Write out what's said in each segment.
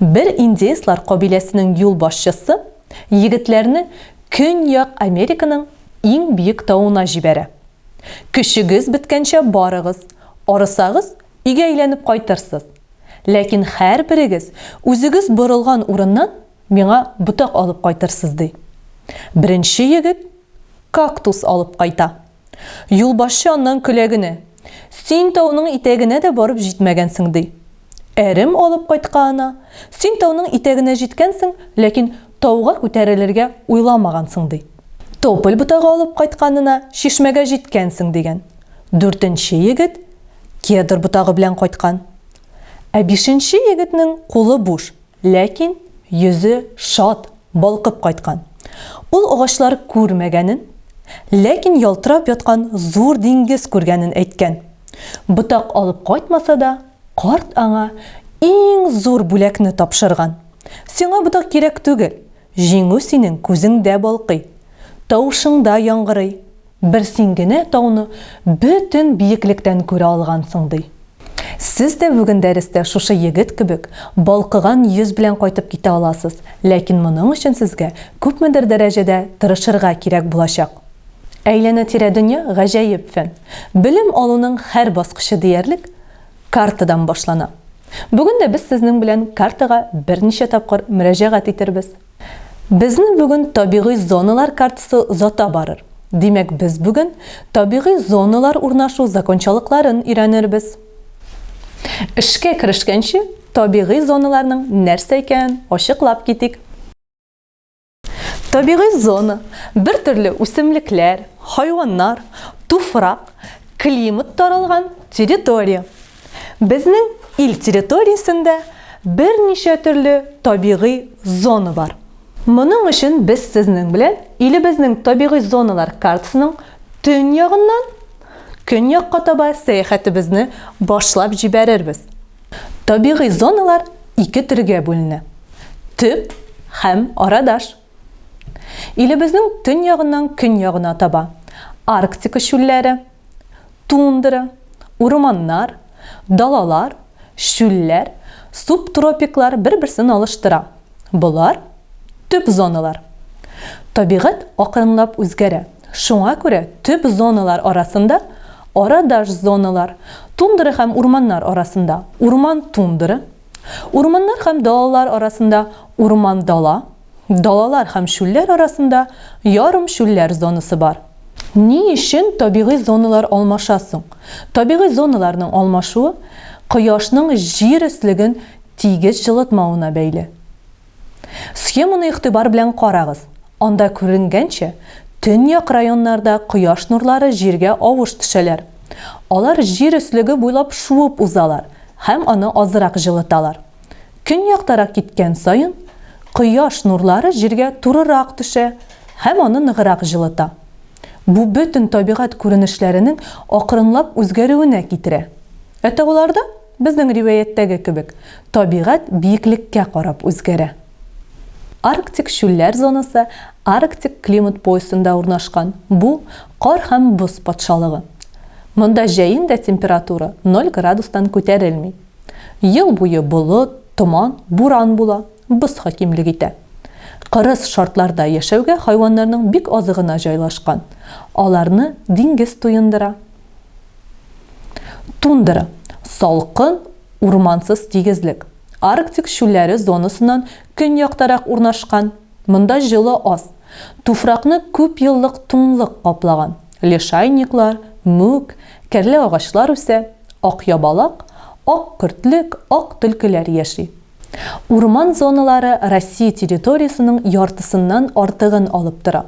Бер индеецлар кабиләсенең юлбашчысы егетләрне Көньяк Американың иң биек тавына җибәрә. Көчегез беткәнчә барыгыз, арысагыз, өйгә әйләнеп кайтырсыз. Ләкин һәрберегез үзегез борылган урыннан миңа ботак алып кайтырсыз, ди. Беренче егет кактус алып кайта. Юлбашчы аннан көлә генә. Син тауның итәгенә дә барып җитмәгәнсең, ди. Әрем алып кайткаына, Син тауның итәгенә җиткәнсең, ләкин тауга күтәрелергә уйламагансың, ди. Тополь ботагы алып кайтканына, Чишмәгә җиткәнсең, дигән. Дүртенче егет кедр ботагы белән кайткан. Ә бишенче егетнең кулы буш, Ләкин йөзе шат, балкып кайткан. Ул агачлар күрмәгәнен, ләкин ялтырап яткан зур диңгез күргәнен әйткән. Ботак алып кайтмаса да, карт аңа иң зур бүләкне тапшырган. Сиңа ботак кирәк түгел, җиңү синең күзеңдә балкый, тавышыңда яңгырый, Бер син генә тауны бөтен биеклектән күрә алгансың, ди. Сез дә бүген дәрестә шушы егет кебек балкыган йөз белән кайтып китә аласыз, ләкин моның өчен сезгә күпмедер дәрәҗәдә тырышырга кирәк булачак. Әйләнә-тирә дөнья гаҗәеп фән. Белем алуның һәр баскычы диярлек картадан башлана. Бүген дә без сезнең белән картага берничә тапкыр мөрәҗәгать итәрбез. Безне бүген табигый зоналар картасы озата барыр. Димәк, без бүген табигый зоналар урнашу закончалыкларын өйрәнербез. Эшкә керешкәнче, табигый зоналарның нәрсә икәнен ачыклап китик. Табигый зона, бер төрле үсемлекләр, хайваннар, туфрак, климат таралган территория. Безнең ил территориясендә берничә төрле табигый зона бар. Моның өчен без сезнең белән илебезнең табигый зоналар картасының төньягыннан көньякка таба сәяхәтебезне башлап җибәрербез. Табигый зоналар ике төргә бүленә, төп һәм арадаш. Илебезнең төньягыннан көньягына таба Арктика чүлләре, тундра, урманнар, далалар, чүлләр, субтропиклар бер-берсен алыштыра. Болар, төп зоналар. Табигать акрынлап үзгәрә, шуңа күрә төп зоналар арасында арадаш зоналар, тундра һәм урманнар арасында урман-тундра, Урманнар һәм далалар арасында урман-дала, далалар һәм чүлләр арасында ярымчүлләр зонасы бар. Ни өчен табигый зоналар алмаша соң? Табигый зоналарның алмашуы Кояшның Җир өслеген тигез җылытмавына бәйле. Схеманы игътибар белән карагыз. Анда күренгәнчә, төньяк районнарда кояш нурлары җиргә авыш төшәләр. Алар җир өслеге буйлап шуып узалар һәм аны азрак җылыталар. Көньяктарак киткән саен, кояш нурлары җиргә турырак төшә һәм аны ныграк җылыта. Бу бөтен табигать күренешләренең акрынлап үзгәрүенә китерә. Ә тауларда? Безнең риваятьтәге кебек, табигать биеклеккә карап үзгәрә. Арктик чүлләр зонасы Арктик климат поясында урнашкан, бу, кар һәм боз патшалыгы. Монда җәен дә температура ноль градустан күтәрелми. Ел буе болыт, томан, буран була, боз хакимлек итә. Кырыс шартларда яшәүгә хайваннарның бик азы гына җайлашкан. Аларны диңгез туендыра. Тундра, салкын, урмансыз тигезлек. Арктик чүлләре зонасыннан көньяктарак урнашкан. Монда җылы аз. Туфракны күпьеллык туңлык каплаган. Лишайниклар, мүк, кәрлә агачлар үсә. Акъябалак, ак көртлек, ак төлкеләр яши. Урман зоналары Россия территориясенең яртысыннан артыгын алып тора.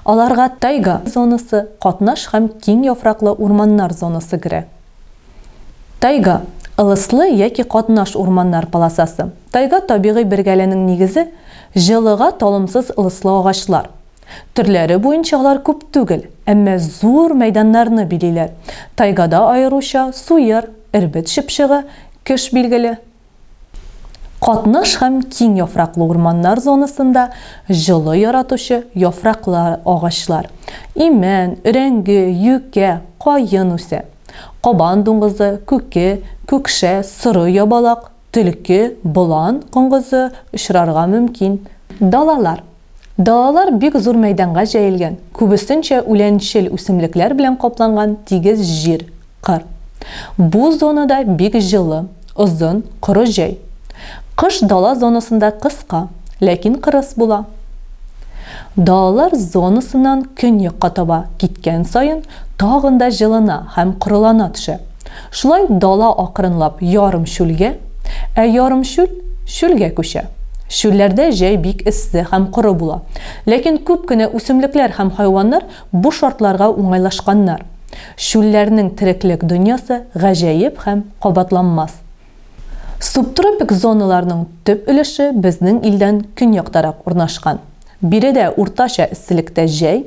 Аларга тайга зонасы, катнаш һәм киң яфраклы урманнар зонасы керә. Тайга, ылыслы яки катнаш урманнар полосасы. Тайга табигый бергәленең нигезе, җылыга талымсыз ылыслы агачлар. Төрләре буенча алар күп түгел, әмма зур мәйданнарны билиләр. Тайгада аеруча суер, эрбет чыпчыгы, кеш билгеле. Катнаш һәм киң яфраклы урманнар зонасында җылы яратучы яфраклы агачлар, имән, өрәңге, юкә, каен үсә. Кабан дуңгызы, күке, күкшә, соры ябалак, төлке, болан коңгызы очрарга мөмкин. Далалар, Далалар бик зур мәйданга җәелгән, күбесенчә үләнчел үсемлекләр белән капланган тигез җир, кыр. Бу зонада бик җылы, озын, коры җәй. Кыш дала зонасында кыска, ләкин кырыс була. Далалар зонасыннан көньякка таба киткән саен тагын да җылына һәм корылана төшә. Шулай дала акрынлап ярым чүлгә, ә ярым чүл, чүлгә күчә. Чүлләрдә җәй бик эссе һәм коры була. Ләкин күп кенә үсемлекләр һәм хайваннар бу шартларга уңайлашканнар. Чүлләрнең тереклек дөньясы гаҗәеп һәм кабатланмас. Субтропик зоналарның төп өлеше безнең илдән көньяктарак урнашкан. Биредә уртача эсселектә җәй,